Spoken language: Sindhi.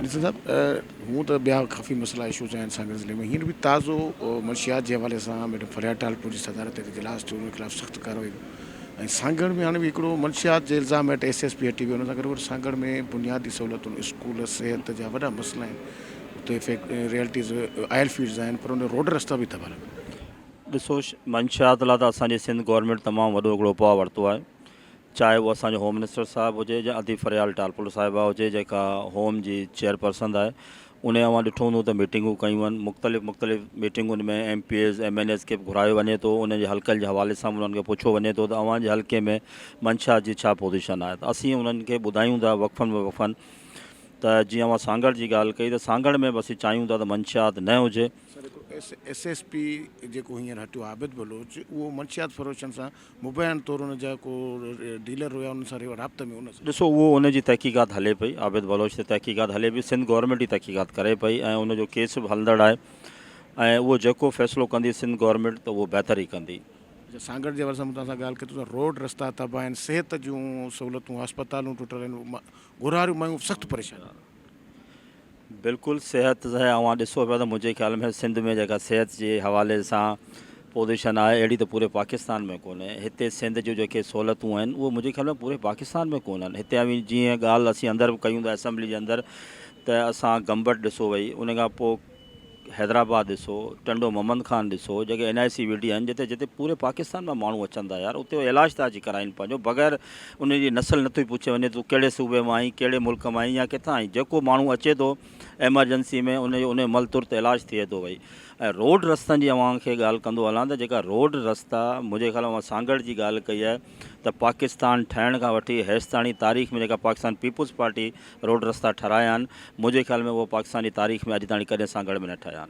ڏسو صاحب هونء ته ٻيا ڪافي مسئلا اشوز آهن سانگهڙ ضلعي ۾ هينئر به تازو منشيات جي حوالي سان ميڊم فريا ٽالپر جي صدارت هيٺ اجلاس ٿيو ان خلاف سخت ڪارروائي ڪيو ۽ سانگهڙ ۾ هاڻي به هڪڙو منشيات جي الزام هيٺ ايس ايس پي هٽي ويو ان سان گڏوگڏ سانگهڙ ۾ بنيادي سهولتن اسڪول صحت جا وڏا مسئلا آهن اتي فيڪ ريئلٽيز آئل فيلڊز آهن پر ان روڊ رستا به تباهه لڳا پيا آهن. ڏسو منشيات لاء ته اسان جي سنڌ گورنمينٽ تمام وڏو هڪڙو اپاء ورتو آهي چاهي اهو اسان جو هوم منسٽر صاحب هجي يا ادي فريال ٽالپر صاحبه هجي جيڪا هوم جي چيئرپرسن آهي انهي اوهان ڏٺو هوندو ته ميٽنگون ڪيون آهن مختلف مختلف ميٽنگن ۾ M P As M N As کي به گهرايو وڃي ٿو انهن جي حلقن جي حوالي سان انهن کي پڇيو وڃي ٿو ته اوهان جي حلقي ۾ منشا جي ڇا پوزيشن آهي ته اسين انهن کي ٻڌايون ٿا وقفن به وقفن ته جيئن اوهان سانگهڙ جي ڳالهه ڪئي ته سانگهڙ ۾ به اسين چاهيون ٿا ته منشيات نه هجي. سر هڪ ايس ايس پي جيڪو هينئر هٽيو عابد بلوچ اهو منشيات فروشن سان مبينا طور ان جا ڪو ڊيلر هيا انهن سان رابطي ۾ ان. ڏسو اهو ان جي تحقيقات هلي پئي عابد بلوچ تي تحقيقات هلي پئي سنڌ گورنمينٽ ئي تحقيقات ڪري پئي ۽ ان جو ڪيس به هلندڙ آهي ۽ اهو جيڪو فيصلو ڪندي سنڌ گورنمينٽ ته اهو بهتر ئي ڪندي. اچا سانگهڙ جي حوالي سان مون توهان سان ڳالهه ڪئي ته روڊ رستا تباهه آهن صحت جون سهولتون هسپتالون ٽٽل آهن گهراڙيون مايون سخت پريشان. بلڪل صحت جي اوهان ڏسو پيا ته منهنجي خيال ۾ سنڌ ۾ جيڪا صحت جي حوالي سان پوزيشن آهي اهڙي ته پوري پاڪستان ۾ ڪونهي هتي سنڌ جون جيڪي سهولتون آهن اهي منهنجي خيال ۾ پوري پاڪستان ۾ ڪونهن هتي اوهين جيئن ڳالهه اسين اندر به ڪيون ٿا اسيمبلي جي اندر ته اسان گمبٽ ڏسو وئي ان کان پوء حيدرآباد ڏسو ٽنڊو محمد خان ڏسو جيڪي اين آء سي ويٺي آهن جتي جتي پوري پاڪستان مان ماڻهو اچن ٿا يار اتي علاج ٿا اچي ڪرائين پنهنجو بغير انهن جي نسل نه ٿي پڇي وڃي تون ڪهڙي صوبي مان آهين ڪهڙي ملڪ مان آهين يا ڪٿان آهين جيڪو ماڻهو اچي ٿو ايمرجنسي ۾ ان جو انهي مهل ترت علاج ٿئي ٿو ڀئي ۽ روڊ رستن جي اوهان کي ڳالهه ڪندو هلان ته جيڪا روڊ رستا منهنجي خيال ۾ سانگهڙ جي ڳالهه ڪئي آهي ته پاڪستان ٺهڻ کان وٺي هيستاڻي تاريخ ۾ جيڪا پاڪستان پيپلز پارٽي روڊ رستا ٺھرايا آھن، منھنجي خيال ۾ اھو پاڪستان جي تاريخ ۾ اڄ تائڻي ڪڏھن سانگھڙ ۾ نه ٺھيا آھن.